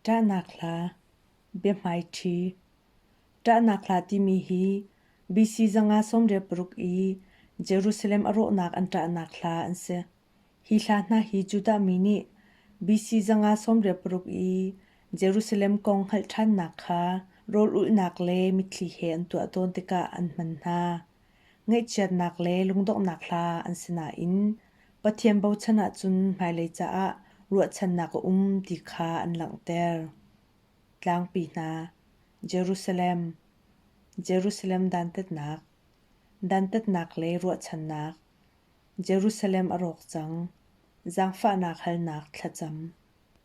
Ṭahnak hla, biahmaiṭhi. Ṭahnak hla timi hi BC zanga sawmriat paruk i Jerusalem a rawhnak an ṭahnak hla an si. Hi hla hna hi Judah mi nih BC zanga sawmriat paruk i Jerusalem kong hngalh ṭhannak kha rawl ulhnak le mitthli he an tuah tawn tikah an hman hna. Ngaihchiatnak le lungdonghnak hla an si nain Pathian bochan ahcun hmailei caah ruahchannak a um ti kha an langhter. Tlangpi hna Jerusalem Jerusalem dantatnak Dantatnak le ruahchannak Jerusalem a rawk cang Zangfahnak halnak thlacam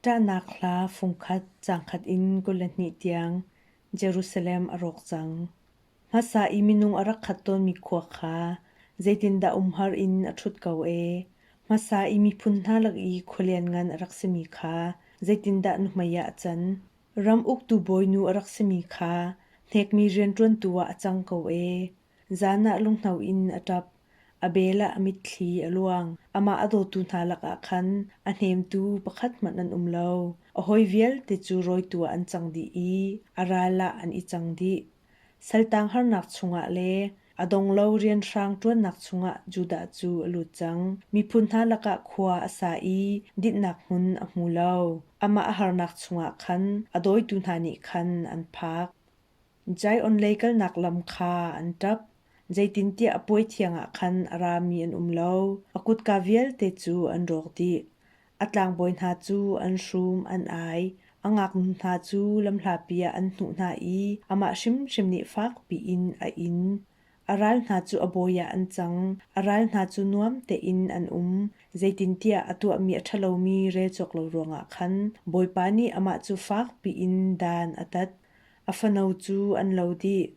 Ṭahnak hla fungkhat cangkhat in kul le hnih tiang Jerusalem a rawk cang. Hmasa i minung a rak khat tawnmi khua kha zeitindah umhar in a ṭhut ko ee? Hmasa i miphun hna lak i khua lianngan a rak simi kha zeitindah nuhmei ah a can? Ram uktu bawinu a rak simi kha hnekmi rianṭuantu ah a cang ko ee. Zan ah lunghno in a ṭap, a bel ah a mitthli a luang. Amah a dawtu hna lakah khan a hnemtu pakhat hmanh an um lo. A hawi vialte cu rawitu ah an cang dih i a ral ah an i cang dih. Saltang harnak chungah le a donglo rianhrang ṭuannak chungah Judah cu a lut cang. Miphun hna lakah khua a sa i dinhnak hmun a hmu lo. Amah a harnak chungah khan a dawitu hna nih khan an phak. Zion lei kalnak lam kha an ṭap, zeitintiah a puai thiangah khan a rami an um lo, a kutka vialte cu an rawk dih. A tlangbawi hna cu an hrum an ai. A ngaknu hna cu lamhlapi ah an hnuh hna i amah hrimhrim nih fakpi in a in. A ral hna cu a bawi ah an cang. A ral hna cu nuam tein an um. Zeitintiah a tuahmi a ṭhalomi rel cawk lo ruangah khan Bawipa nih amah cu fakpi in dan a tat. A fano cu an lo dih.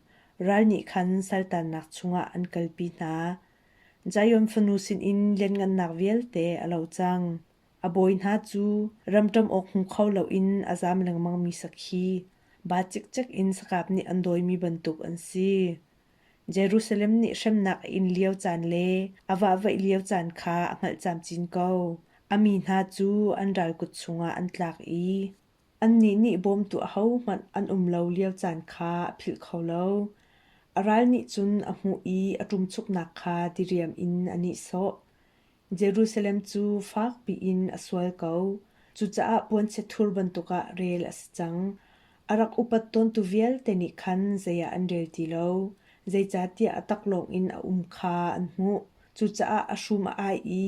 Ral nih khan saltannak chungah an kalpi hna. Zion fanu sinin lianngannak vialte a lo cang. A bawi hna cu ramṭam awk hmu kho loin a zam lengmangmi sakhi, ba cikcek in sakap nih an dawimi bantuk an si. Jerusalem nih hremnak a in lio caan le a vahvaih lio caan kha a hngalh camcin ko. A mi hna cu an ral kut chungah an tlak i Annih nih bawmtu ahohmanh an um lo lio caan kha a philh kho lo. A ral nih cun a hmuh i a ṭumchuknak kha diriam in a nihsawh. Jerusalem cu fakpi in a sual ko. Cucaah puanchiathur bantukah rel a si cang. A rak upat tawntu vialte nih khan zei ah an rel ti lo. Zeicahtiah a taklawng in a um kha an hmuh. Cucaah a hrum a ai i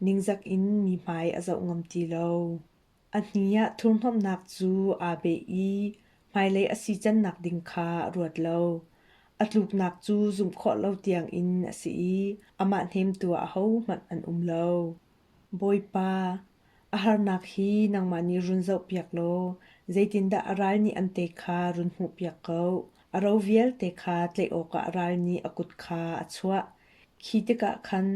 ningzak in mi hmai a zoh ngam ti lo. A hni ah thurhnawmhnak cu aa beh i hmailei a si cannak ding kha a ruat lo. A tluknak cu zumh khawh lo tiangin a si i amah hnemtu ahohmanh an um lo. Bawipa, a harnak hi nangmah nih run zohpiak law zeitindah a ral nih an te kha run hmuhpiak ko. A ro vialte kha tlaih awkah ral nih a kut kha a chuah. Khi tikah khan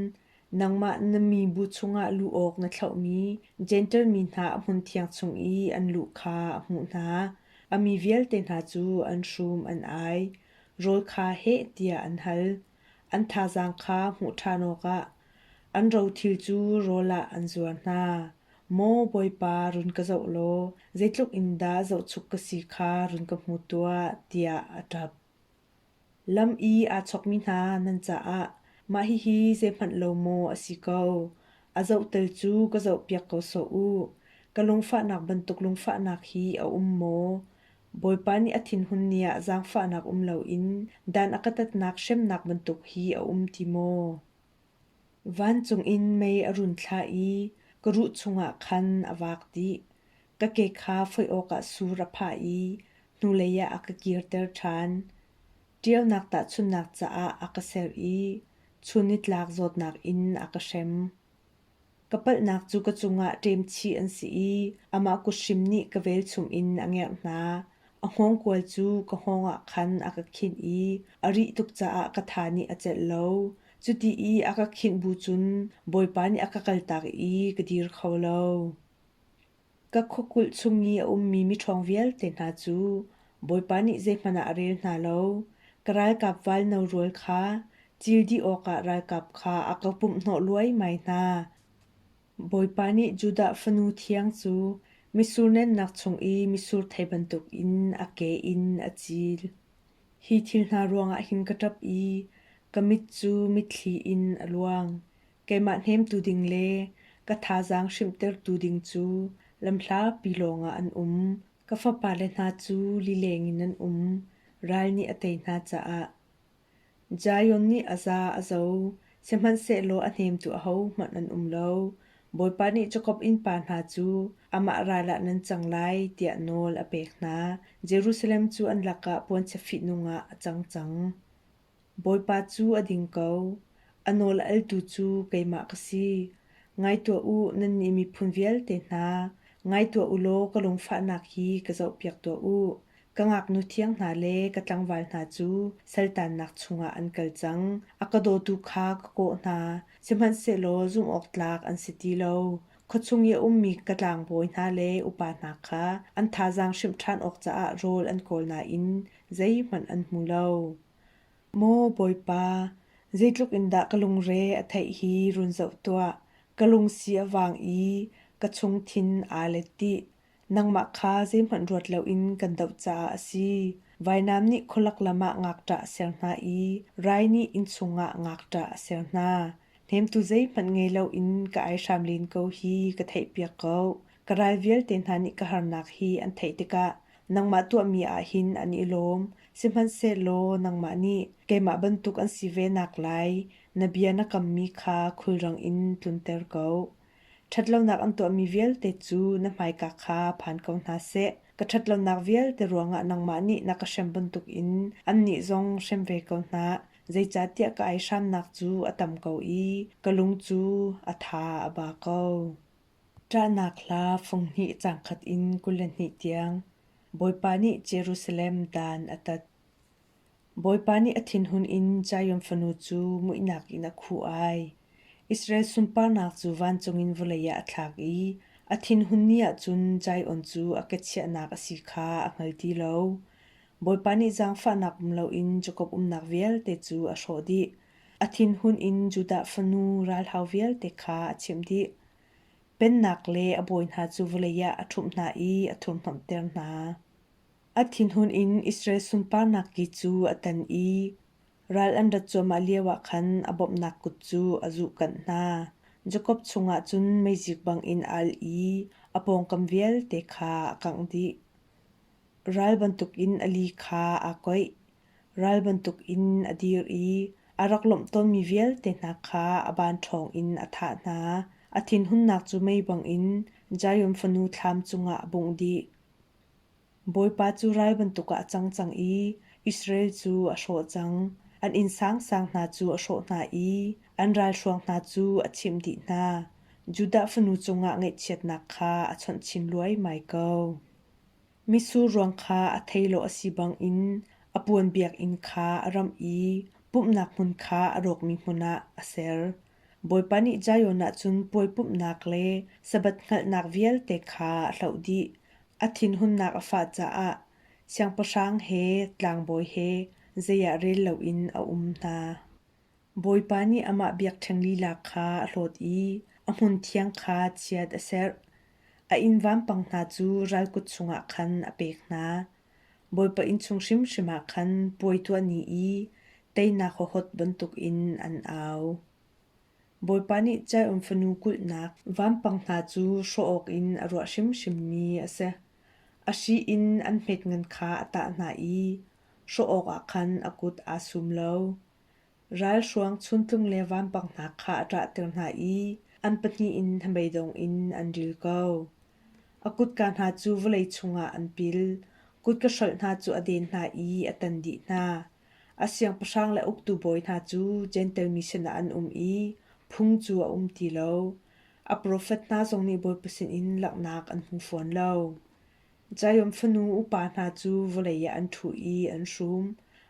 Nangmah na mibu chungah luh awk na thlauhmi Jentail mi hna a hmunthiang chung i an lu kha a hmuh hna. A mi vialte hna cu an hrum an ai. Rawl kha heh tiah an hal. An thazaang kha hmuh ṭhan awkah an rothil cu rawl ah an zuar hna. Maw Bawipa, run ka zoh law zeitluk in dah zohchuk ka si kha run ka hmu tuah, tiah a ṭap. Lam i aa chawkmi hna nan caah mah hihi zeihmanh lo maw a si ko, a zoh tal cu ka zohpiak ko sawh u. Ka lungfahnak bantuk lungfahnak hi a um maw? Bawipa nih a thinhun ni ah zaangfahnak um loin dan a ka tatnak hremnak bantuk hi a um ti maw? Vancung in mei a run thlah i ka ruh chungah khan a vak dih. Ka ke kha foih awkah sur a phah i hnulei ah a ka kirter ṭhan. Ṭialnak tahchunhnak caah a ka serh i chun i tlak zawtnak in a ka hrem. Ka palhnak cu ka cungah ṭemchih an si i amah kuthrim nih ka velchum in a ngerh hna. A hngawngkual cu ka hngawngah khan a ka khinh i a rih tuk caah ka tha nih a celh lo. Cuti i a ka khinh bu cun Bawipa nih a ka kaltak i ka dir kho lo. Ka khuakulh chung i a ummi miṭhawng vialte hna cu Bawipa nih zeihmanh ah a rel hna lo, ka ralkap val no rual kha cil dih awkah ralkap kha a ka pumhhnawh luaimai hna. Bawipa nih Judah fanu thiang cu mitsur nennak chung i mitsur thei bantukin a ke in a cil. Hi thil hna ruangah hin ka ṭap i ka mit cu mitthli in a luang. keimah hnemtu ding le ka thazaang hrimhtertu ding cu lamhlapi lawngah an um. Ka fapale hna cu lileng in an um, ral nih a tei hna caah. Zion nih a za a zo, sihmanhsehlaw a hnemtu ahohmanh an um lo. Bawipa nih Jakob innpa hna cu amah ral ah nan cang lai tiah nawl a pek hna. Jerusalem cu an lakah puanchia fihnung ah a cang cang. Bawipa cu a ding ko, a nawl a eltu cu keimah ka si. Ngai tuah u, nannih miphun vialte hna, ngai tuah u law ka lungfahnak hi ka zohpiak tuah u. Ka ngaknu thiang hna le ka tlangval hna cu saltannak chungah an kal cang. A ka dawtu kha ka kawh hna, sihmanhsehlaw zumhawktlak an si ti lo. Khuachung i a ummi ka tlangbawi hna le upa hna kha an thazaang hrimh ṭhan awk caah rawl an kawl nain zeihmanh an hmu lo. Maw Bawipa, zeitluk in dah ka lungre a theih hi run zoh tuah, ka lungsi a vang i ka chungthin aa let dih. Nangmah kha zeihmanh ruat loin kan doh caah a si. Vainam nih khualak lam ah ngakṭah a ser hna i rai nih innchung ah ngakṭah a ser hna. Hnemtu zeihmanh ngei loin ka ai hram len ko hi ka theihpiak ko. Ka ral vialte hna nih ka harnak hi an theih tikah nangmah tuahmi ah hin an i lawm. Sihmanhsehlaw nangmah nih keimah bantuk an si ve nak lai na bia na kammi kha khulrang in tlunter ko. Ṭhatlonak an tuahmi vialte cu na hmaika kha phan ko hna seh. Ka ṭhatlonak vialte ruangah nangmah nih na ka hrem bantukin annih zong hrem ve ko hna. Zeicahtiah ka ai hramnak cu a tam ko i ka lung cu a tha a ba ko. Ṭahnak hla funghnih cangkhat in kul le hnih tiang Bawipa nih Jerusalem dan a tat. Bawipa nih a thinhun in Zion fanu cu muihnak in a khuh ai. Israel sunparnak cu vancung in vawlei ah a thlak i a thinhun ni ah cun Zion cu a kechiahnak a si kha a hngal ti lo. Bawipa nih zaangfahnak um loin Jakob umnak vialte cu a hrawh dih. A thinhun in Judah fanu ralhau vialte kha a chimh dih. Pennak le a bawi hna cu vawlei ah a ṭhumh hna i a thurhhnawmhter hna. A thinhun in Israel sunparnak ki cu a tan i ral an rat cuahmah lioah khan a bawmhnak kut cu a zuhkanh hna. Jakob chungah cun meizik bangin a al i a pawngkam vialte kha a kangh dih. Ral bantukin a li kha aa koih, ral bantukin a dir i a rak lawmh tawnmi vialte hna kha a ban ṭhawngin a thah hna. A thinhunnak cu mei bangin Zion fanu thlam cungah a bungh dih. Bawipa cu ral bantuk ah a cang cang i Israel cu a hrawh cang; an inn sangsang hna cu a hrawh hna i an ralhruang hna cu a chimh dih hna. Judah fanu cungah ngaihchiatnak kha a chawnh chin luaimai ko. Mitsur ruang kha a theilawh a si bangin a puan biakinn kha a ramh i pumhnak hmun kha a rawkmi hmun ah a ser. Bawipa nih Zion ah cun puai pumhnak le Sabbath hngalhnak vialte kha a hloh dih. A thinhunnak a fah caah siangpahrang he tlangbawi he zei ah rel loin a um hna. Bawipa nih amah biakṭheng lila kha a hlawt i a hmunthiang kha chiat a serh. A inn vampang hna cu ral kut chungah khan a pek hna. Bawipa innchung hrimhrim ah khan puai tuah ni i teinak hohot bantukin an au. Bawipa nih Zion fanu kulhnak vampang hna cu hrawh awkin a ruah hrimhrimmi a si. A hri in an hmet ngan kha a tah hna i hrawh awkah khan a kut aa sum lo. Ralhruang chuntlung le vampang hna kha a ṭahter hna i an pahnih in hnabeidong in an ril ko. A kutka hna cu vawlei chungah an pil, kutka hrolh hna cu a den hna i a tan dih hna. A siangpahrang le uktu bawi hna cu Jentail mi sinah an um i phung cu a um ti lo. A profet hna zong nih Bawipa sinin langhnak an hmu fawn lo. Giant fanu upa hna cu vawlei ah an ṭhu i an hrum.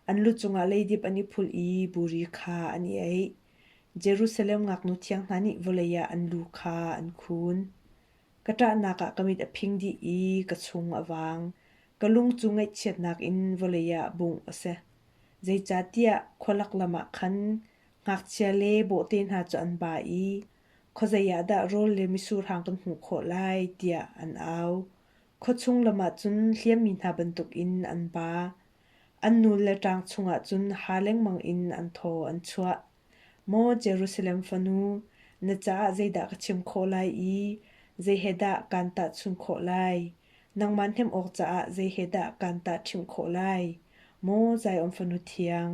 An lu cungah leidip an i phulh i buri kha an i eih. Jerusalem ngaknu thiang hna nih vawlei ah an lu kha an khun. Ka ṭahnak ah ka mit a phing dih i ka chung a vang. Ka lung cu ngaihchiatnak in vawlei ah bungh a si. Zeicahtiah khua laklam ah khan ngakchia le bawhte hna cu an ba i Khuazei ah dah rawl le misurhang kan hmuh khawh lai tiah an au. Khuachung lam ahcun hliammi hna bantukin an ba. An nu le ṭang chungah cun ha lengmang in an thaw an chuah. Maw Jerusalem fanu, na caah zeidah ka chim khawh lai i zei he dah kaan tahchunh khawh lai? Nangmah hnemh awk caah zei he dah kaan tahṭhimh khawh lai? Maw Zion fanu thiang,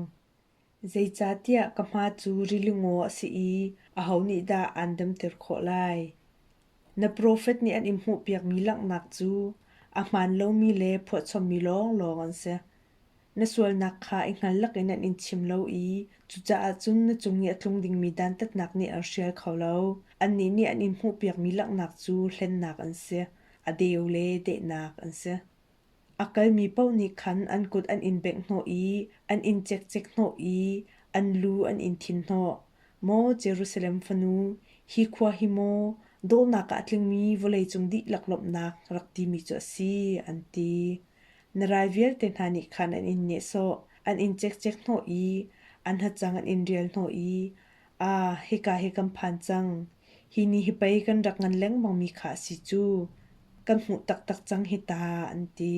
Zeicahtiah ka hma cu rilingaw a si i aho nih dah aan damter khawh lai? Na profet nih an in hmuhpiakmi langhnak cu a hmaan lomi le phuahchommi lawnglawng an si. Na sualnak kha i hngal lakin an in chim lo i cucaah cun na cung i a tlung dingmi dantatnak nih an hrial kho lo. Annih nih an in hmuhpiakmi langhnak cu hlennak an si, a deu le dehnak an si. A kalmi paoh nih khan an kut an in bengh hnawh i an in cekcek hnawh i an lu an in thin hnawh. Maw Jerusalem fanu, hi khua hi maw dawhnak ah a tlingmi vawleicung dihlak lawmhnak rak timi cu a si, an ti. Na rai vialte hna nih khan an in nehsawh, an in cekcek hnawh i an hacang an in rial hnawh i Ah, hika hi kan phan cang. Hi ni hi pei kan rak ngan lengmang mi kha a si cu. Kan hmuh taktak cang hi ta, an ti.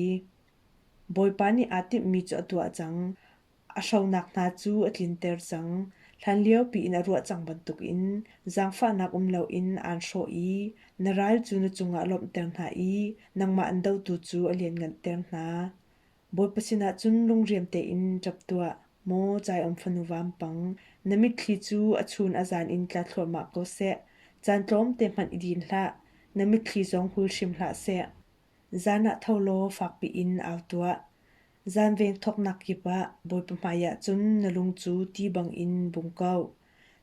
Bawipa nih aa timhmi cu a tuah cang. A hronak hna cu a tlinter cang. Hlanlio piin a ruah cang bantukin zaangfahnak um loin aan hrawh i na ral cu na cungah lawmhter hna i nangmah an dotu cu a lianhnganter hna. Bawipa sinah cun lungriam tein ṭap tuah, maw Zion fanu vampang, na mitthli cu a chun a zan in tla thluahmah ko seh. Caan tlawmte hmanh i din hlah, na mitthli zong hul hrim hlah seh. Zan ah tho law fakpi in au tuah. Zan vengthoknak kip ah Bawipa hmaiah cun na lung cu ti bangin bung ko.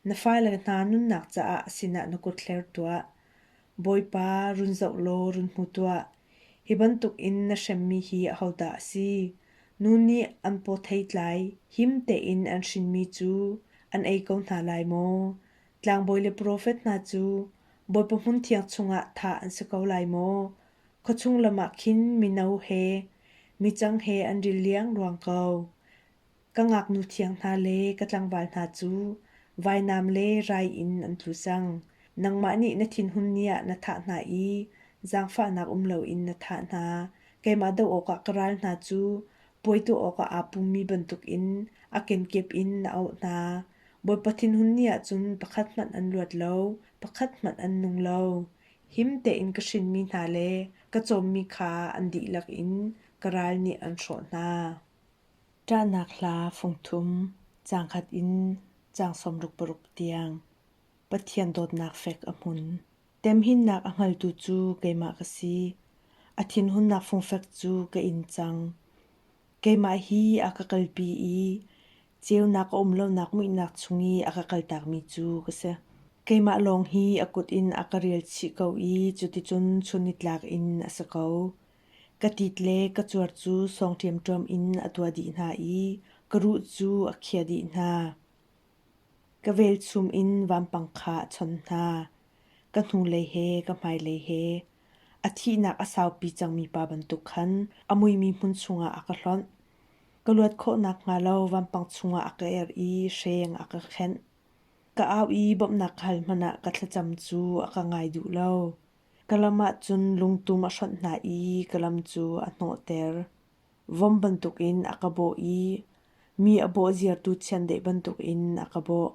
Na fale hna nunnak caah sinah na kut hler tuah. Bawipa, run zoh law run hmu tuah. Hi bantuk in na hremmi hi ahodah a si? Nu nih an paw thei tlai, him tein an hrinmi cu an ei ko hna lai maw? Tlangbawi le profet hna cu Bawipa hmunthiang chungah thah an si ko lai maw? Khuachung lam ah khin mino he, micang he an ril liang ruang ko. ka ngaknu thiang hna le ka tlangval hna cu vainam le rai in an tlu cang. Nangmah nih na thinhun ni ah na thah hna i zaangfahnak um loin na thah hna. Keimah doh awkah ka ral hna cu puai tuah awkah aa pummi bantukin a kenkep in na auh hna. Bawipa thinhun ni ah cun pakhat hmanh an luat lo, pakhat hmanh an nung lo. Him tein ka hrinmi hna le ka cawmmi kha an dihlak in ka ral nih an hrawh hna. Ṭahnak hla fungthum cangkhat in cang sawmruk paruk tiang Pathian dawtnak fek a hmun. Temhinnak a hngaltu cu keimah ka si. A thinhunnak fungfek cu ka in cang. Keimah hi a ka kalpi i ceunak a um lonak muihnak chung i a ka kaltakmi cu ka si. Keimah lawng hi a kut in a ka rel chih ko i cuticun chun nitlak in a si ko. Ka tit le ka cuar cu sawng ṭemṭem in a tua dih hna i ka ruh cu a khia dih hna. Ka velchum in vampang kha a chon hna. Ka hnulei he ka hmailei he a thihnak a saupi cangmi pa bantuk khan a muimi hmun chungah a ka hlonh. Ka luat khawh nakhnga lo vampang chungah a ka er i hreng a ka khenh. Ka au i bawmhnak hal hmanh ah ka thlacam cu a ka ngai duh lo. Ka lam ahcun lungtum a hrawnh hna i ka lam cu a hnawhter. Vom bantukin a ka bawh i mi a bawh ziartu chiandeih bantukin a ka bawh.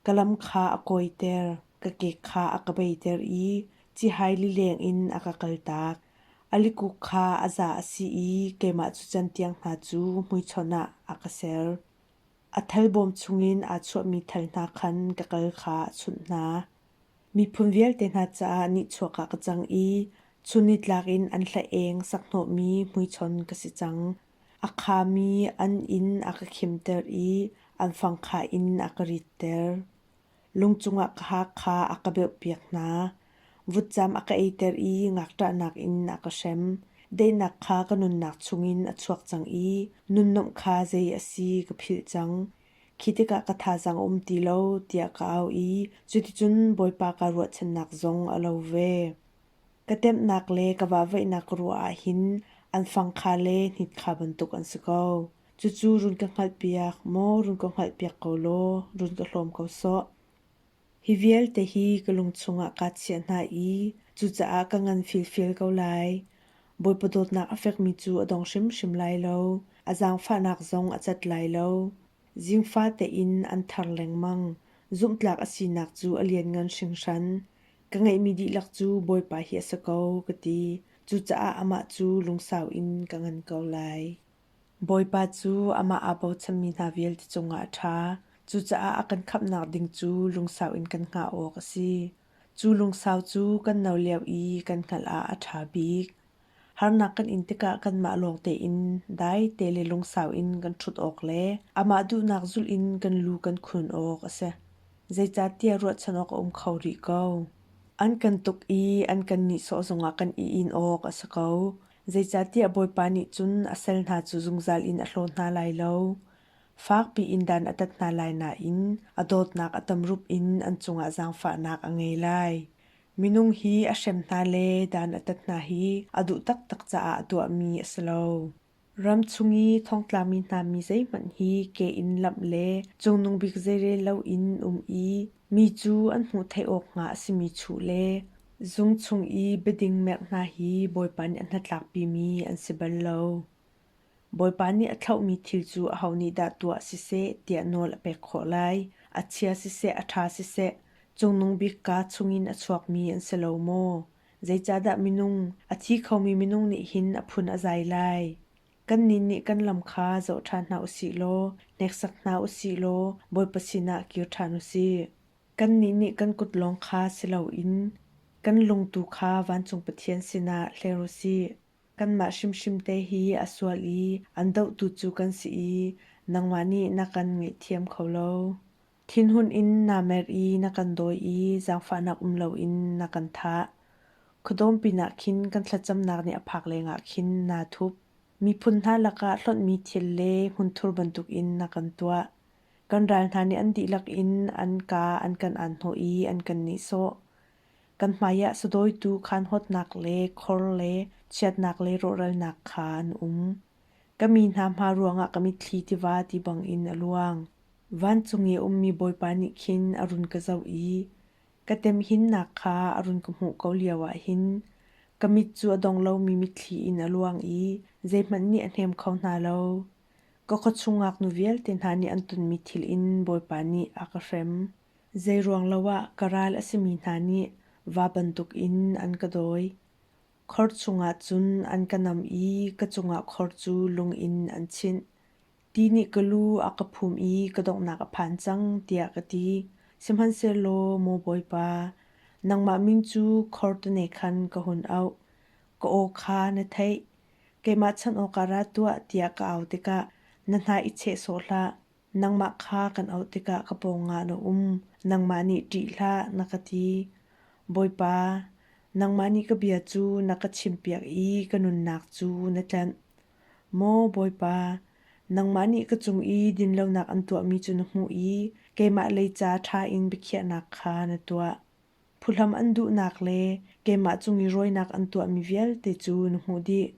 Ka lam kha a kawiter, ka kek kha a ka beiter i cihai lileng in a ka kaltak. A likuk kha a za a si i keimah cu can tiang hna cu hmuichon ah a ka ser. A thal bawm chungin aa chuahmi thal hna khan ka kal kha a chunh hna. Miphun vialte hna caah nihchuak ah ka cang i chun nitlak in an hla-eng sakhnawhmi hmuichon ka si cang. A khami an inn a ka khimter i an fangkhah in a ka ritter. Lung cungah ka haak kha a ka beuhpiak hna. Vutcam a ka eiter i ngakṭahnak in a ka hrem. Daihnak kha ka nunnak chungin a chuak cang i nunnomh kha zei a si ka philh cang. Khi tikah ka thazaang a um ti lo tiah ka au i cuticun Bawipa kaa ruahchannak zong a lo ve. Ka temhnak le ka vahvaihnak ka ruah ahhin an fang kha le hnit kha bantuk an si ko. Cucu run ka hngalhpiak maw run ka hngalhpiak ko law run ka hlawm ko sawh. Hi vialte hi ka lung chungah kaa chiah hna i cucaah ka ngan filfil ko lai. Bawipa dawtnak a fekmi cu a dong hrimhrim lai lo. A zaangfahnak zong a cat lai lo. Zingfa tein an thar lengmang. Zumhtlak a sinak cu a lianngan hringhran. Ka ngeihmi dihlak cu Bawipa hi a si ko ka ti. Cucaah amah cu lungsau in ka ngan ko lai. Bawipa cu amah aa bochanmi hna vialte cungah a ṭha. Cucaah a kan khamhnak ding cu lungsau in kan hngah awk a si. Cu lungsau cu kan no lio i kan hngalh ah a ṭha bik. Harnak kan in tikah kanmah lawng tein daite le lungsau in kan ṭhut awk le amah duhnak zulh in kan lu kan khun awk a si. Zeicahtiah ruahchan awk a um kho rih ko. An kan tuk i an kan nihsawh zongah kan i in awk a si ko. Zeicahtiah Bawipa nih cun a sal hna cu zungzal in a hlaw hna lai lo. Fakpi in dan a tat hna lai nain a dawtnak a tamrup in an cungah zaangfahnak a ngei lai. Minung hi a hrem hna le dan a tat hna hi a duh taktak caah a tuahmi a si lo. Ram chung i thongtlami hna mi zeihmanh hi ke in lamh le cungnung bik zeirel loin um i mi cu an hmuh theih awk hnga a simi chuh le Zung chung i biading merh hna hi Bawipa nih a hnatlakpimi an si bal lo. Bawipa nih a thlauhmi thil cu aho nih dah tuah siseh tiah nawl a pek khawh lai. A chia siseh, a ṭha siseh, Cungnung Bik kaa chungin a chuakmi an si lo maw? Zeicahdah minung, a thi khomi minung nih hin a phun a zai lai? Kannih nih kan lam kha zoh ṭhan hna u sih law, hneksak hna u sih law, Bawipa sinah kir ṭhan u sih. Kannih nih kan kut lawng kha si loin kan lung tu kha vancung Pathian sinah hler u sih. Kanmah hrimhrim te hi a sual i an dohtu cu kan si i nangmah nih na kan ngaihthiam kho lo. Thinhun in naa mer i na kan dawi i zaangfahnak um loin na kan thah. Khuadawm pinah khin kan thlacamnak nih a phak lengah khin naa thup. Miphun hna lakah hlonhmi thil le hmunthur bantukin na kan tuah. Kan ral hna nih an dihlak in an ka an kan aan hnawh i an kan nihsawh. Kan hmaiah sadawitu khanhawtnak le khor le chiatnak le rawhralnak kha an um. Ka mi hna hma ruangah ka mitthli tiva ti bangin a luang. Vancung i a ummi Bawipa nih khin a run ka zoh i ka temhinnak kha a run ka hmuh ko lioah hin ka mit cu a dong lomi mitthli in a luang i zeihmanh nih a hnem kho hna lo. Ka khuachung ngaknu vialte hna nih an tonmi thil in Bawipa nih a ka hrem. Zeiruang lo ah ka ral a simi hna nih va bantuk in an ka dawi. Khor chungah cun an ka nam i ka cungah khor cu lung in an chinh. Ti nih ka lu a ka phum i ka donghnak a phan cang, tiah ka ti. Sihmanhsehlaw, Maw Bawipa, nangmah min cu khor tone khan ka hun auh. Ka aw kha na theih, keimah chanh awkah ra tuah tiah ka au tikah na hna i cheh sawh hlah. Nangmah kha kan auh tikah ka pawngah na um, nangmah nih ṭih hlah, na ka ti. Bawipa, nangmah nih ka bia cu na ka chimpiak i ka nunnak cu na tlanh. Maw Bawipa, nangmah nih ka cung i dinlonak an tuahmi cu na hmuh i keimah lei ca ṭha in biakhiahnak kha na tuah. Phuhlam an duhnak le keimah cung i rawinak an tuahmi vialte cu na hmuh dih.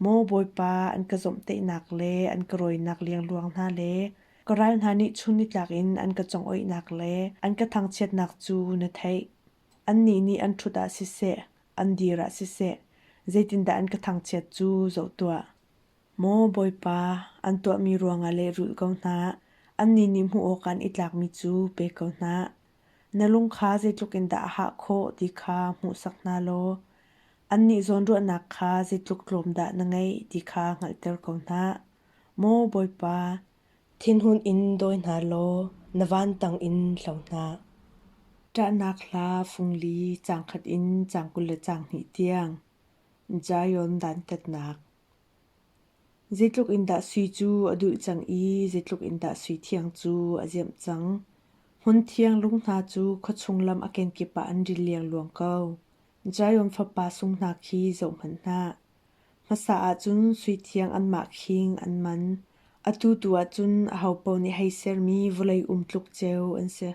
Maw Bawipa, an ka zomhtaihnak le an ka rawinak liangluang hna le ka ral hna nih chun nitlak in an ka congoihnak le an ka thangchiatnak cu na theih. Annih nih an ṭhut ah siseh, an dir ah siseh, zeitindah an ka thangchiat cu zoh tuah. Maw Bawipa, an tuahmi ruangah lehrulh ko hna. Annih nih hmuh awkah an i tlakmi cu pe ko hna. Na lung kha zeitluk in dah a hah khawh ti kha hmuhsak hna law annih zawnruahnak kha zeitluk tlawm dah na ngeih ti kha hngalhter ko hna. Maw Bawipa, thinhun in dawi hna law na vantang in hlo hna. Ṭahnak hla fungli cang khat in cang kul le cang hnih tiang Zion dantatnak Zeitluk in dah sui cu a duh cang i zeitluk in dah suithiang cu a ziamh cang. Hmunthiang lung hna cu khuachung lam a kenkip ah an ril liangluang ko. Giant fapa sung hna khi zohhmanh hlah. Hmasa ahcun suithiang anmah khing an man. Atu tu ahcun ahopaoh nih hei sermi vawlei um tluk ceu an si.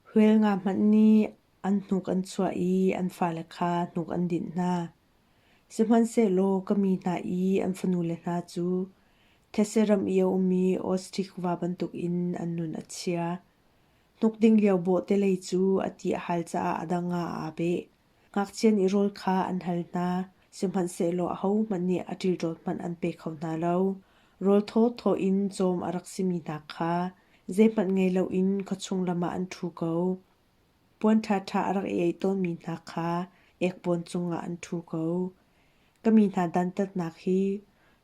Huel nga hmanh nih an hnuk an chuah i an fale kha hnuk an dinh hna. Sihmanhsehlaw ka mi hna i an fanule hna cu Thetse ram i a ummi Ostikva bantukin an nun a chia. Hnuk ding lio bawhtelei cu a ti a hal caah a dang ah aa beh. Ngakchian i rawl kha an hal hna, sihmanhsehlaw ahohmanh nih a ṭilṭawl hmanh an pe kho hna lo. Rawl thawthaw in cawm a rak simi hna kha zeihmanh ngei loin khuachung lam ah an ṭhu ko. puan ṭhaṭha a rak i ei tawnmi hna kha ekpawn cungah an ṭhu ko. Ka mi hna dantatnak hi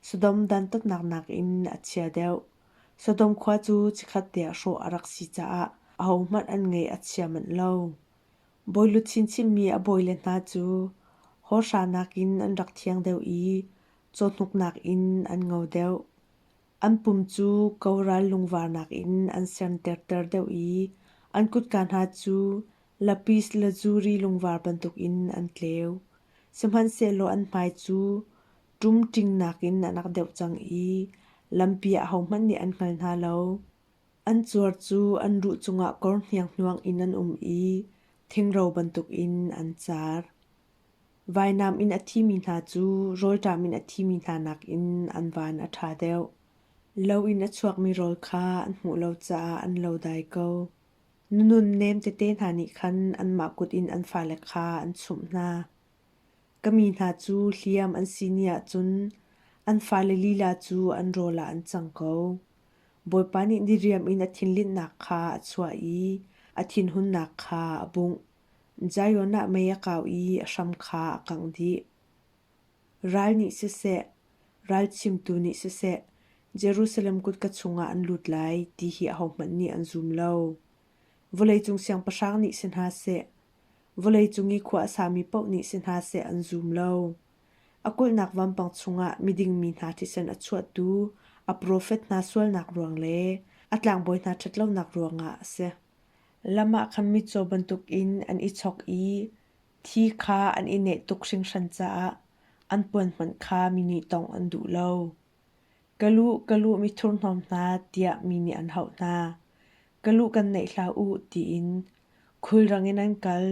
Sodom dantatnak nakin a chia deuh. Sodom khua cu chikhat tiang hrawh a rak si caah ahohmanh an ngeih a chia manh lo. Bawilut chinchinmi a bawile hna cu hawrhra nakin an rak thiang deuh i cawhnuk nakin an ngo deuh. An pum cu ko ral lungvarnak in an serterter deuh i an kutka hna cu lapis lazuli lungvar bantukin an tleu. Sihmanhsehlaw an hmai cu ṭum ṭingnak in an rak deuh cang i lampi ah hohmanh nih an hngal hna lo. An cuar cu an ruh cungah kor hnianghnuang in an um i thingro bantukin an car. Vainam in a thimi hna cu rawlṭam in a thimi hna nakin an van a ṭha deuh. Lo in a chuakmi rawl kha an hmuh lo caah an lo dai ko. Nunun nem tete hna nih khan anmah kut in an fale kha an chumh hna. Ka mi hna cu hliam an si ni ahcun an fale lila cu an rawl ah an cang ko. Bawipa nih diriam in a thinlinhnak kha a chuah i a thinhunnak kha a bungh. Zion ah mei a kau i a hram kha a kangh dih. Ral nih siseh, ral chimtu nih siseh, Jerusalem kutka chungah an lut lai ti hi ahohmanh nih an zum lo. Vawleicung siangpahrang nih si hna seh, vawleicung i khua a sami paoh nih si hna seh an zum lo. A kulhnak vampang chungah miding mi hna thisen a chuahtu a profet hna sualnak ruang le a tlangbawi hna ṭhatlonak ruangah a si. Lam ah khan mitcaw bantukin an i chok i thi kha an i neh tuk hringhran caah an puan hmanh kha mi nih tawngh an duh lo. Ka lu, ka lu mithurhnawm hna, tiah mi nih an hauh hna. Ka lu kan naih hlah u, tiin khulrang in an kal.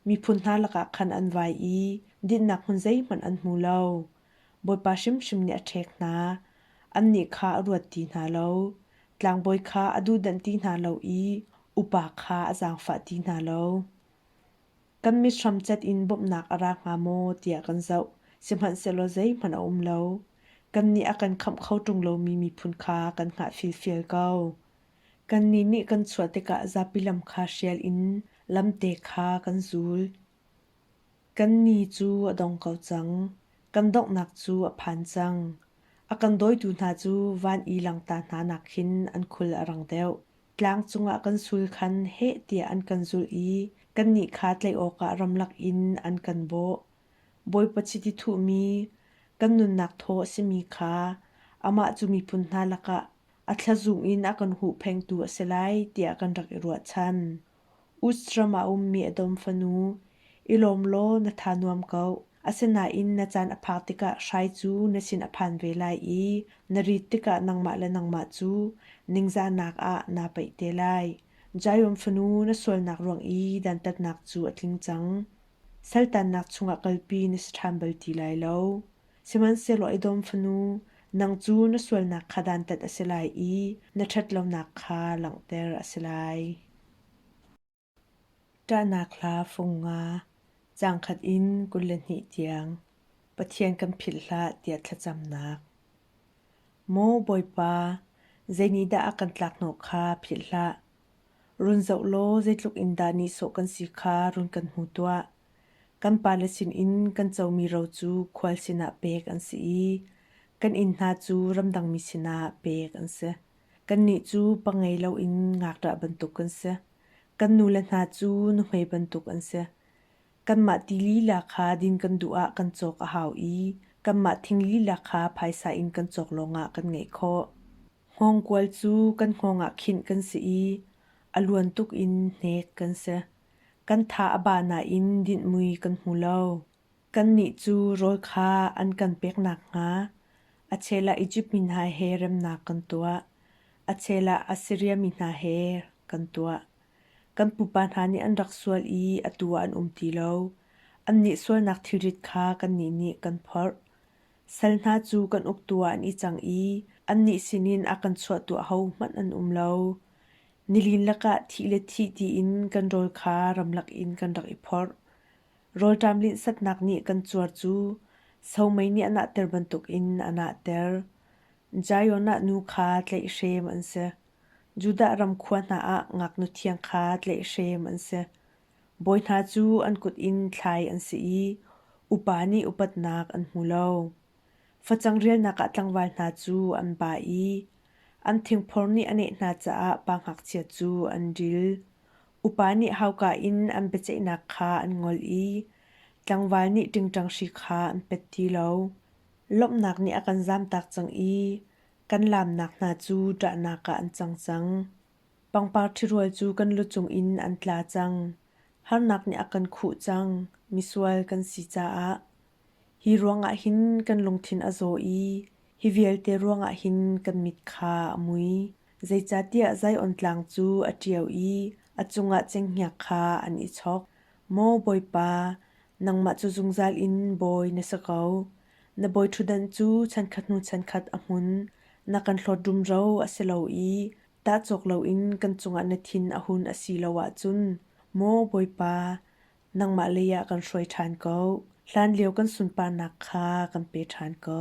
Miphun hna lakah khan an vai i dinnak hmun zeihmanh an hmu lo. Bawipa hrimhrim nih a ṭhek hna. Annih kha a ruat ti hna lo, tlangbawi kha a duhdanh ti hna lo i upa kha a zaangfah ti hna lo. Kan mit hramcat in bawmhnak a ra hnga maw tiah kan zoh, sihmanhsehlaw zeihmanh a um lo. Kannih a kan khamh kho ṭung lomi miphun kha kan hngah filfil ko. Kannih nih kan chuah tikah zapi lam kha hrial in lamte kha kan zul. Kan ni cu a dong ko cang. Kan donghnak cu a phan cang. A kan dawitu hna cu van i langta hna nak khin an khul a rang deuh. Tlang cungah kan sul khan heh tiah an kan zulh i kannih kha tlaih awkah ramlak in an kan bawh. Bawipa chiti thuhmi kan nunnak thaw a simi kha amah cu miphun hna lakah a thlazung in a kan huhphengtu a si lai tiah kan rak i ruahchan. Uz ram ah a ummi a dawm fanu, i lawm law na tha nuam ko. Asinain na caan a phak tikah hrai cu na sin a phan ve lai i na rit tikah nangmah le nangmah cu ningzahnak ah naa paih te lai. Jairem fanu na sualnak ruang i dantatnak cu a tling cang. Saltannak chungah kalpi na si ṭhan bal ti lai lo. Sihmanhsehlaw Edom fanu, nang cu na sualnak kha dantat a si lai i na ṭhatlonak kha langhter a si lai. Ṭahnak hla fung nga, caang khat in kul le hnih tiang, Pathian kan philh hlah tiah thlacamnak. Maw Bawipa, zeinihdah a kan tlakhnawh kha philh hlah, Run zoh law zeitluk in dah nihsawh kan si kha run kan hmu tuah. Kan pale sinin kan comi ro cu khual sinah pek an si i kan inn hna cu ramdangmi sinah pek an si. Kannih cu pa ngei loin ngakṭah bantuk kan si. Kan nule hna cu nuhmei bantuk an si. Kanmah ti lila kha din kan duh ah kan cawk a hau i kanmah thing lila kha phaisa in kan cawk lawngah kan ngeih khawh. Hngawngkual cu kan hngawng ah khinh kan si i a luan tuk in hnek kan si. Kan tha a ba nain dinhmui kan hmu lo. Kannih cu rawl kha an kan pek nakhnga a chela Izipt mi hna he remnak kan tuah. A chela Assiria mi hna he kan tuah. Kan pupa hna nih an rak sual i atu ah an um ti lo. Annih sualnak thilrit kha kannih nih kan phorh. Sal hna cu kan uktu ah an i cang i annih sinin a kan chuahtu ahohmanh an um lo. Nilin lakah thih le thih tiin kan rawl kha ramlak in kan rak i phorh. Rawlṭam linhsatnak nih kan cuar cu somei nih a nahter bantukin a nahter. Zion ah nu kha tlaihhrem an si. Judah ram khua hna ah ngaknu thiang kha tlaihhrem an si. Bawi hna cu an kut in thlai an si i upa nih upatnak an hmu lo. Facang rialnak ah tlangval hna cu an ba i an thingphor nih a neh hna caah pa ngakchia cu an dil. Upa nih hauka in an biaceihnak kha an ngol i tlangval nih ṭingṭang hri kha an pet ti lo. Lawmhnak nih a kan zamtak cang i kan laamnak hna cu ṭahnak ah an cang cang. Pangpar ṭhirual cu kan lu cungin an tla cang. Harnak nih a kan khuh cang. Misual kan si caah. Hi ruangah hin kan lungthin a zaw i hi vialte ruangah hin kan mit kha a mui. Zeicahtiah Zion tlang cu a ṭiao i a cungah cenghngia kha an i chok. Maw Bawipa, nangmah cu zungzal in bawi na si ko. Na bawiṭhutdan cu chankhat hnu chankhat a hmun. Na kan hlawt rumro a si lo i tah cawk loin kan cungah na thin a hun a si lo ahcun maw Bawipa, nangmah leiah kan hruai ṭhan ko. Hlanlio kan sunparnak kha kan pe ṭhan ko.